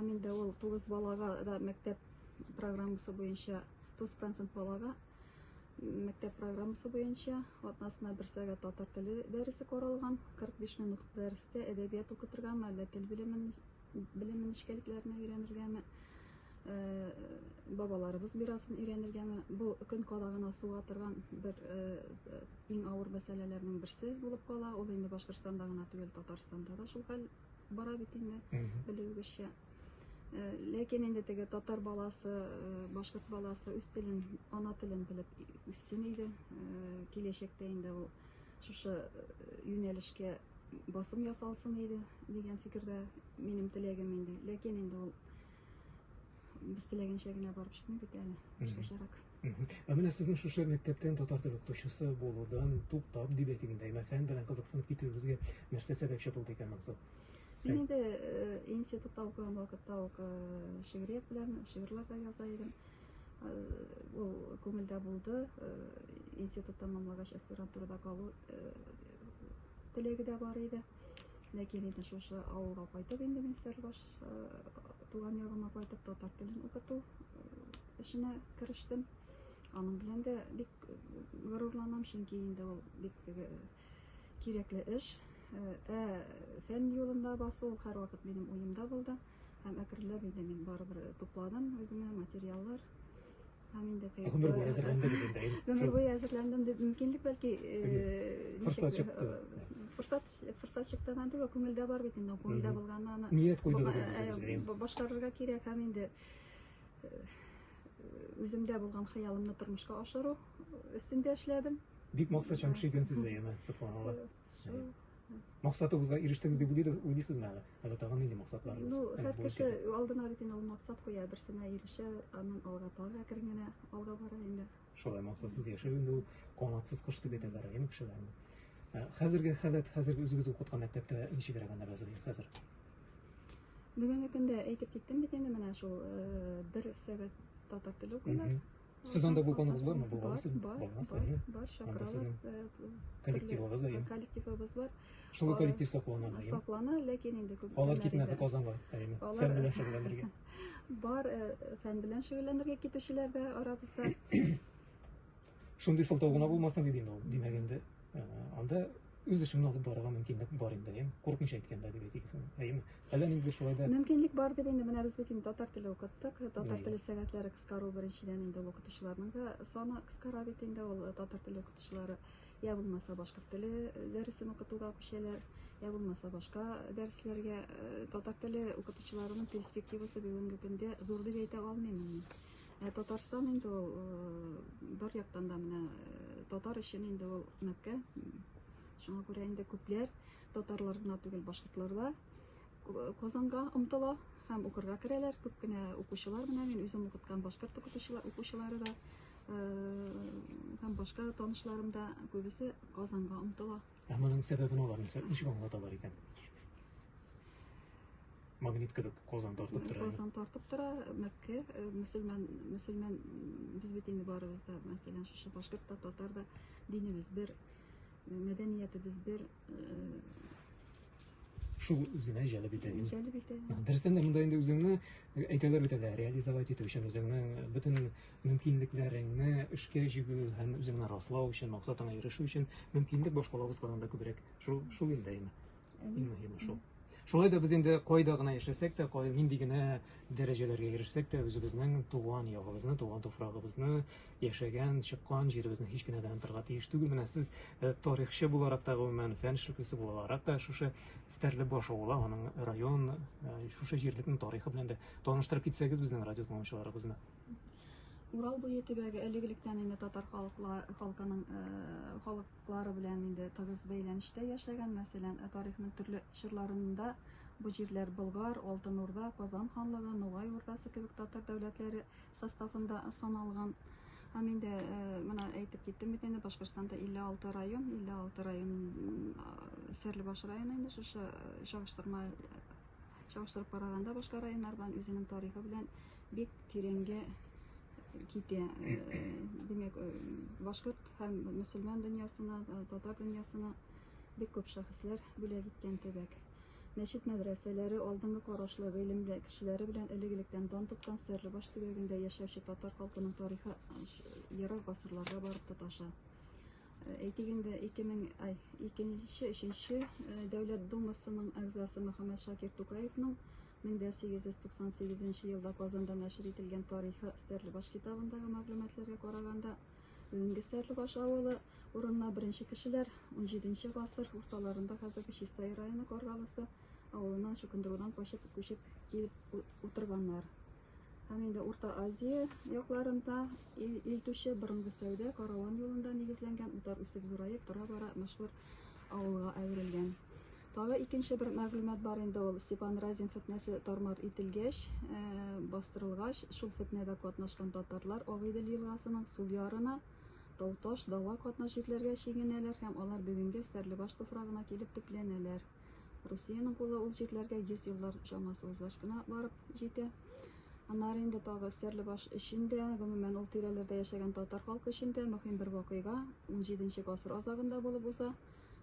Камилдә ул 9 балага да мәктәп программасы буенча 9% балага мәктәп программасы буенча атнасына бер сәгать татар теле дәресе каралган, 45 минут дәрестә әдәбият укытыргамы, әллә тел белемен белем нечкәлекләренә өйрәнергәме, э, бабаларыбыз бирасын өйрәнергәме, бу көн кадагына суга торган бер э, иң авыр мәсьәләләрнең берсе булып кала. Ул инде Башкортстанда гына түгел, Татарстанда да шул хәл бара бит инде белүегезчә э, ләкин инде теге татар баласы э, башкорт баласы үз телен ана телен белеп үссен иде э, киләчәктә инде ул шушы юнәлешкә басым ясалсын иде дигән фикердә минем теләгем инде ләкин инде ул Без теләгәнчә генә барып чыкмый бит әле. Башкачарак. Ә менә сезнең шушы мәктәптән татар теле укытучысы булудан туктап дип әйтик инде, әмма фән белән кызыксынып китүегезгә нәрсә сәбәпче булды икән монысы? Мин инде э, институтта укыган вакытта ук э, шигърият белән шигырьләр дә яза идем. Э, ул күңелдә булды. Э, институт тәмамлагач аспирантурада калу э, теләге дә бар иде. Ләкин инде шушы авылга кайтып инде мин Сәрбаш э, туган ягыма кайтып татар телен укыту э, эшенә керештем. Аның белән дә бик э, горурланам, чөнки инде ул бик теге кирәкле эш. Ә фән юлында басу һәрвакыт минем уемда булды. Һәм әкренләп инде мин барыбер тупладым үземә материаллар. Һәм инде кайттым. Гомер буе әзерләндегез инде. Гомер буе әзерләндем дип мөмкинлек бәлки форсат чыкты. Форсат форсат чыктыган түгел, күңелдә бар бит инде, күңелдә булганны аны. Ният куйдыгыз инде. Башкарырга кирәк һәм инде үземдә булган хыялымны тормышка ашыру өстендә эшләдем. Бик максатчан кеше икәнсез дә, яме, сокланалар. мақсатыгызга ирештегез дип уйлыйсызмы әле әллә тагын нинди максатларыгыз ну һәр кеше алдына бит инде ул максат куя берсенә ирешә аннан алга тагы әкрен генә алга бара инде шулай максатсыз яшәү инде ул канатсыз кош дип әйтәләр әйеме кешеләрне хәзерге халәт хәзерге үзегез укыткан мәктәптә ничегрәк әнәгәзер хәзер бүгенге көндә әйтеп киттем бит инде менә шул бер сәгать татар теле укыйлар Сез анда булганыгыз бармы? Булгансыз? Булгансыз? Бар, чакыралар. Коллективыгыз да Коллективыбыз бар. Шул коллектив саклана. Саклана, ләкин инде күп. Алар китмәде Казанга, әйеме. Фән белән шөгыльләнергә. Бар, фән белән шөгыльләнергә китүчеләр дә арабызда. Шундый сылтау гына булмасын диде инде ул, димәгәндә. Анда үз эшеңне алып барырга мөмкинлек бар инде, әйеме? Курыкмыйча әйткәндә дип әйтик, әйеме? Әллә ниндидер шулай да Мөмкинлек бар дип инде менә без бит инде татар теле укыттык. Татар теле сәгатьләре кыскару беренчедән инде ул укытучыларның да саны кыскара бит инде ул э, татар теле укытучылары я булмаса башкорт теле э, дәресен укытуга күчәләр, я булмаса башка дәресләргә э, татар теле укытучыларының перспективасы бүгенге көндә зур дип әйтә алмыйм мин. Ә Татарстан инде ул бер яктан да менә татар өчен инде ул Мәккә. Шуңа күрә инде күпләр татарлар гына түгел, башкортлар да Казанга омтыла һәм укырга керәләр. Күп кенә укучылар менә мин үзем укыткан башкорт укытучылар укучылары да һәм башка танышларым да күбесе Казанга омтыла. Ә моның сәбәбен алар нәрсә ничек аңлаталар икән? Магнит кебек Казан тартып тора. Казан тартып тора, Мәккә, э, мөселман, мөселман без бит инде барыбыз да, мәсәлән, шушы башкорт та, татар да динебез бер, э, мәдәниятебез бер, э, шул үзенә җәлеп итә инде. Җәлеп итә. Дөрестән дә монда инде үзеңне э, әйтәләр бит әле, реализовать итү өчен үзеңнең э, бөтен мөмкинлекләреңне эшкә җигү һәм үзеңне раслау өчен, максатыңа ирешү өчен мөмкинлек башкалабыз Казанда күбрәк. Шул шул инде әйме. Иң мөһиме шул. Шулай да без инде кайда гына яшәсәк тә, кай нинди генә дәрәҗәләргә ирешсәк тә, үзебезнең туган ягыбызны, туган туфрагыбызны, яшәгән, чыккан җиребезне һич кенә дә онытырга тиеш түгел. Менә сез э, тарихчы буларак та, гомумән, фән эшлеклесе буларак та шушы Стәрлебаш авылы, аның район, э, шушы җирлекнең тарихы белән дә таныштырып китсәгез безнең радио тыңлаучыларыбызны. Урал буе төбәге элек-электән инде татар халыкла, халкының э, халыклары белән инде тыгыз бәйләнештә яшәгән. Мәсәлән, э, тарихның төрле чорларында бу җирләр Болгар, Алтын Урда, Казан ханлыгы, Нугай Урдасы кебек татар дәүләтләре составында саналган. Һәм инде менә әйтеп киттем бит инде, Башкортстанда 56 район, 56 район Сәрлебаш районы инде шушы чагыштырма чагыштырып караганда башка районнар белән үзенең тарихы белән бик тирәнгә китә. Димәк, башкорт һәм мөселман дөньясына, татар дөньясына бик күп шәхесләр бүләк иткән төбәк. Мәчет-мәдрәсәләре, алдынгы карашлы, гыйлемле кешеләре белән элек-электән дан тоткан Стәрлебаш төбәгендә яшәүче татар халкының тарихы ерак гасырларга барып тоташа. Әйтик инде, 2000, ай, икенче, өченче э, Дәүләт Думасының әгъзасы Мөхәммәд Шакир Тукаевның 1898 елда Казанда нәшер ителгән тарихы Стәрлебаш китабындагы мәгълүматларга караганда, Бүгенге Сәрлебаш авылы урынына беренче кешеләр 17 гасыр урталарында хәзерге Чистай районы Каргалысы авылыннан чукындырудан качып күчеп килеп утырганнар. Һәм инде Урта Азия якларында ил, ил түше борынгы сәүдә караван юлында нигезләнгән утар үсеп зураеп тора бара мәшһүр авылга әверелгән. Тагы икенче бер мәгълүмат бар инде ул Степан Разин фетнәсе тармар ителгәч, э, бастырылгач, шул фетнәдә катнашкан татарлар Агыйдел елгасының сул ярына, Тауташ, Дала катна җирләргә чигенәләр һәм алар бүгенге Стәрлебаш туфрагына килеп төпләнәләр. Русиянең кулы ул җирләргә 100 еллар чамасы узгач кына барып җитә. Аннары инде тагы Сәрлебаш өчен дә, гомумән ул тирәләрдә яшәгән татар халкы өчен дә мөһим бер вакыйга 17 нче гасыр азагында булып уза.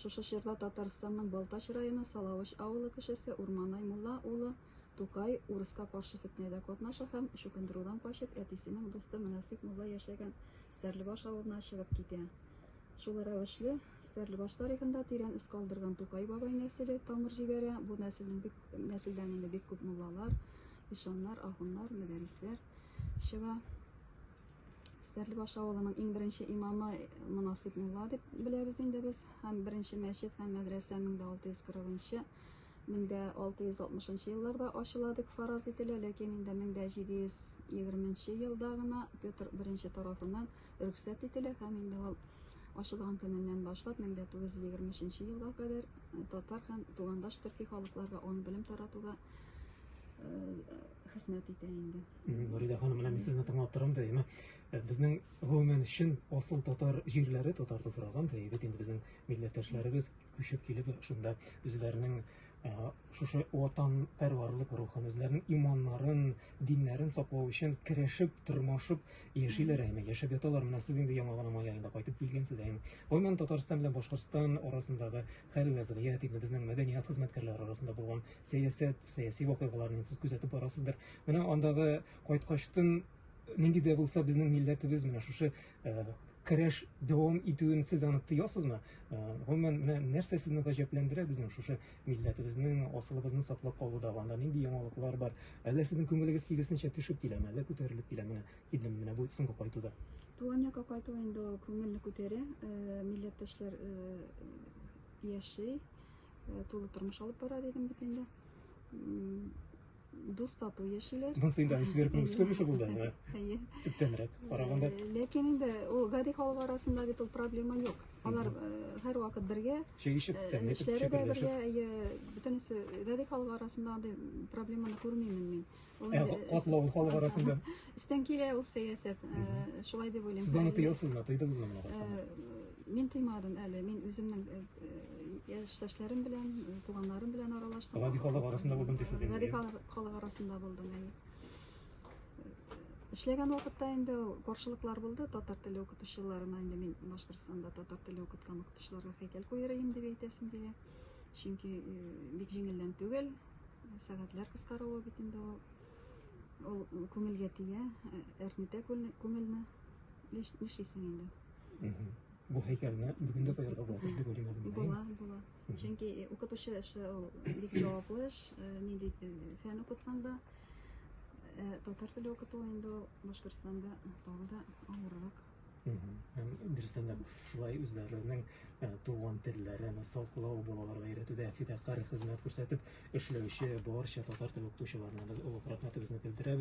Шушы чорда Татарстанның Балтач районы Салавыч авылы кешесе Урманай Мулла улы Тукай урыска каршы фетнәдә катнаша һәм, чукындырудан качып, әтисенең дусты Мөнасип Мулла яшәгән Стәрлебаш авылына чыгып китә. Шул рәвешле, Стәрлебаш тарихында тирән эз калдырган Тукай бабай нәселе тамыр җибәрә. Бу нәселнең бик нәселдән инде бик күп муллалар, ишаннар, ахуннар, мәдәрисләр чыга. Стәрлебаш авылының иң беренче имамы Мунасип мулла дип беләбез инде без. Һәм беренче мәчет һәм мәдрәсә 1640-нчы 1660-нчы елларда ачыла дип фараз ителә, ләкин инде 1720-нчы елда гына Петр I тарафыннан рөхсәт ителә һәм инде ул ачылган көненнән башлап 1923 елга кадәр татар һәм тугандаш төрки халыкларга он белем таратуга хезмәт итә инде. Нуридә ханым, менә мин сезне тыңлап торам да, яме э, безнең гомумән чын асыл татар җирләре, татар туфрагы, да бит инде безнең милләттәшләребез күчеп килеп шунда үзләренең э, шушы ватан пәрварлык рухын, үзләренең иманнарын, диннәрен саклау өчен керәшеп, тормашып яшиләр әйме, яшәп яталар. Менә сез инде яңа гына май аенда кайтып килгәнсез әйме. Гомумән Татарстан белән Башкортстан арасындагы Хәл вәзгыять ягъ инде безнең мәдәният хезмәткәрләре арасында булган сәясәт, сәяси вакыйгаларны сез күзәтеп барасыздыр. Менә андагы кайткачтын нинди дә булса безнең милләтебез менә шушы көрәш дәвам итүен сез аны тоясызмы? Гомумән, менә нәрсә сезне гаҗәпләндерә безнең шушы милләтебезнең асылыбызны саклап калуда анда нинди яңалыклар бар? Әллә сезнең күңелегез киресенчә төшеп киләме, әллә күтәрелеп киләме? Килдем менә бу соңгы кайтуда. Туган якка кайту инде ул күңелне күтәрә, э, милләттәшләр э, яши, э, тулы тормыш алып бара дидем бит инде. Дус тату яшиләр. Монсы инде Айсбер күңелсез күренеше булды. Әйе. Төптәнрәк караганда. Ләкин инде ул гади халык арасында бит ул проблема юк. Алар һәр вакыт бергә. Чәй ишеп, тәмле ишеп, чәй ишеп. Бергә, әйе, бөтенесе гади халык арасында андый проблеманы күрмим мин. Ә, катлау халык арасында. Истән килә ул сәясәт. Э, шулай дип уйлыйм. Сез аны тоясызмы? Тойдыгызмы моны? Э, мин тыймадым әле. Мин үземнең э, яшьтәшләрем белән, туганнарым белән аралаштым. Гади халык арасында булдым дисез инде. Гади халык арасында булдым, әйе. Эшләгән вакытта инде каршылыклар булды татар теле укытучыларына. Инде мин Башкортстанда татар теле укыткан укытучыларга хәйкәл куйырыйм дип әйтәсем килә. Чөнки бик җиңелдән түгел. Сәгатьләр кыскаруы бит инде ул. Ул күңелгә тия, әрнетә күңелне. Нишлисең инде? Бу һәйкәлне бүген дә куярга була дип уйлыйм әле. Була, була. Чөнки укытучы эше ул бик җаваплы эш. Нинди фән укытсаң да, татар теле укыту инде ул Башкортстанда тагы да авыррак. Дөрестән дә шулай үзләренең туган телләрен саклау, балаларга өйрәтүдә фидакарь хезмәт күрсәтеп эшләүче барча татар теле укытучыларына без олуг рәхмәтебезне белдерәбез.